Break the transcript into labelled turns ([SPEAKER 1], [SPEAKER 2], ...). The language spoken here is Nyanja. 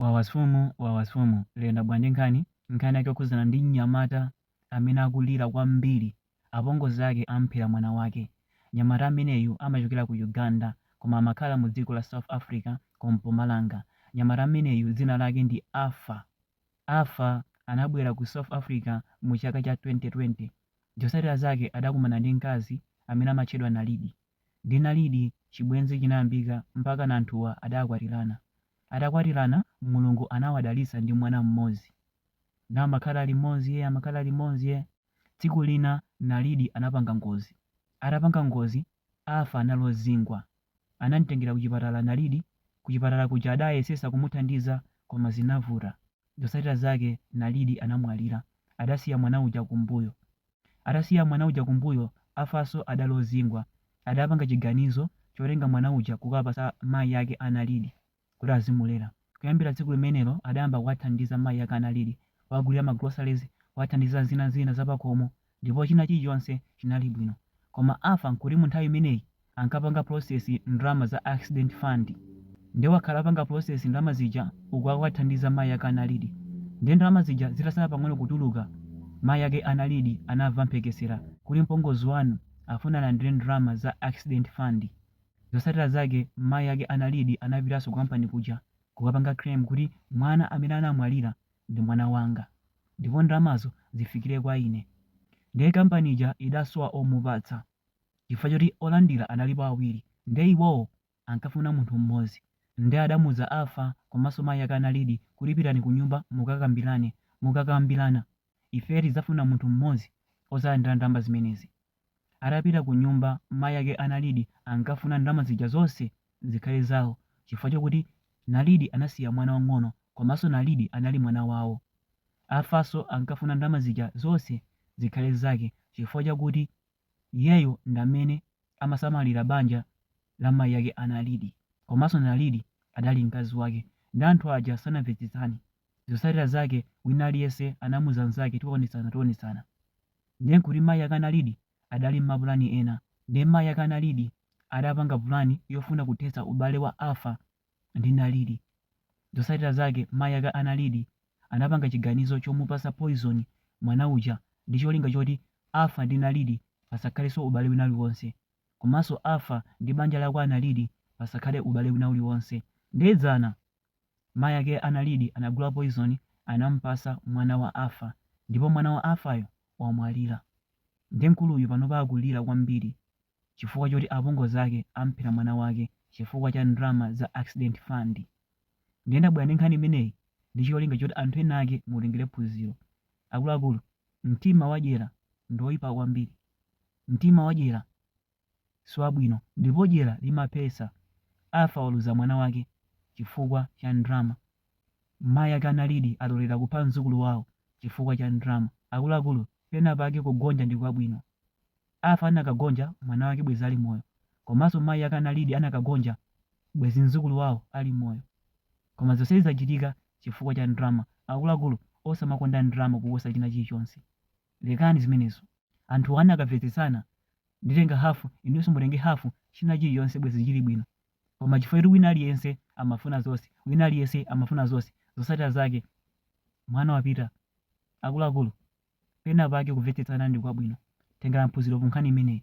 [SPEAKER 1] Wawasumu Wawasumu lero ndabwera ndi nkhani, nkhani yake yokhudzana ndi mnyamata amene akulira kwambiri apongozi ake amuphera mwana wake. Mnyamata ameneyu amachokera ku Uganda koma amakhala mu dziko la South Africa ku Mpumalanga. Mnyamata ameneyu dzina lake ndi Alpha. Alpha anabwera ku South Africa mu chaka cha 2020. Zotsatira zake adakumana ndi mkazi amene amatchedwa Nalidi. Ndi Nalidi chibwenzi chinayambika mpakana anthuwa adakwatirana. Atakwatirana Mulungu anawadalitsa ndi mwana mmodzi. Now amakhala limodzi yeah, amakhala limodzi yeah. Tsiku lina Nalidi anapanga ngozi. Atapanga ngozi Alpha anali ozingwa. Anamtengera kuchipatala Nalidi, kuchipatala kuja adayesesa kumuthandiza koma zinavuta. Zotsatira zake Nalidi anamwalira. Adasiya mwana uja kumbuyo. Atasiya mwana uja kumbuyo, Alphanso adali ozingwa. Adapanga chiganizo chotenga mwana uja kukapatsa mayi ake a Nalidi kuti azimulera. Kuyambira tsiku limenelo adayamba kuwathandiza mayi ake a Nalidi kuwagulira ma groceries, kuwathandiza zina zina zapakhomo ndipo china chilichonse chinali bwino. Koma Alpha nkuti munthawi imeneyi ankapanga process ndalama za accident fund nde wakhala apanga process ndalama zija uku akuwathandiza mayi ake a Nalidi nde ndalama zija zitasala pang'ono kutuluka mayi ake a Nalidi anamva mphekesera kuti mpongozi wanu afuna alandire ndalama za accident fund zotsatira zake mayi ake a Nalidi anapitanso ku company kuja kukapanga claim kuti mwana amene anamwalira ndi mwana wanga ndipo ndalamazo zifikire kwa ine nde company ija idasowa omupatsa chifukwa choti olandira analipo awiri nde iwowo ankafuna munthu mmodzi nde adamuuza Alpha komanso mayi ake a Nalidi kuti pitani kunyumba mukakambirane, mukakambirana ifeyo tidzafuna munthu mmodzi odzalandira ndalama zimenezi. Atapita kunyumba mayi ake a Nalidi ankafuna ndalama zija zonse zikhale zawo chifukwa chokuti Nalidi anasiya mwana wang'ono komanso Nalidi anali mwana wawo. Alphanso ankafuna ndalama zija zonse zikhale zake chifukwa chakuti. Iyeyo ndamene amasamalira banja la mayi ake a Nalidi komanso Nalidi adali mkazi wake nde anthu aja sanamvetsetsane zotsatira zake wina aliyense anamuza mzake tionetsana tionetsana nde nkuti mayi ake a Nalidi adali mmapulani ena nde mayi ake a Nalidi adapanga pulani yofuna kuthetsa ubale wa Alpha ndi Nalidi. Zotsatira zake mayi ake a Nalidi anapanga chiganizo chomupatsa poison mwana uja ndi cholinga choti Alpha ndi Nalidi pasakhalenso ubale wina uliwonse komanso Alpha ndi banja la kwa Nalidi pasakhale ubale wina uliwonse. Nde dzana mayi ake a Nalidi anagula poison anamupatsa mwana wa Alpha ndipo mwana wa Alphayo wamwalira. Nde mkuluyu panopa akulira kwambiri. chifukwa choti apongozi ake amuphera mwana wake chifukwa cha ndalama za accident fund. Ndiye ndabwera ndi nkhani imeneyi ndi cholinga choti anthu ena ake mutengere phunziro. Akuluakulu, mtima wadyera ndi woipa kwambiri. Mtima wadyera si wabwino ndipo dyera limaphetsa. Alpha waluza mwana wake chifukwa cha ndalama. Mayi ake a Naledi alolera kupha mdzukulu wawo chifukwa cha ndalama. Akuluakulu, pena pake kugonja ndi kwabwino. Alpha anakagonja mwana wake bwezi ali moyo, komaso mayi ake a Naledi anakagonja bwezi mzukulu wawo ali moyo koma zonsezi zachitika chifukwa cha ndrama, akuluakulu osamakonda ndrama kuposa china chilichonse lekani zimenezo anthuwa anakavetsetsana nditenga half inunso mutenge half china chilichonse bwezi chili bwino koma chifukwa choti wina aliyense amafuna zonse wina aliyense amafuna zonse zotsatira zake mwana wapita akuluakulu Penapake kumvetsetsana ndi kwabwino. Tengelani phunzilo ku nkhani imeneyi.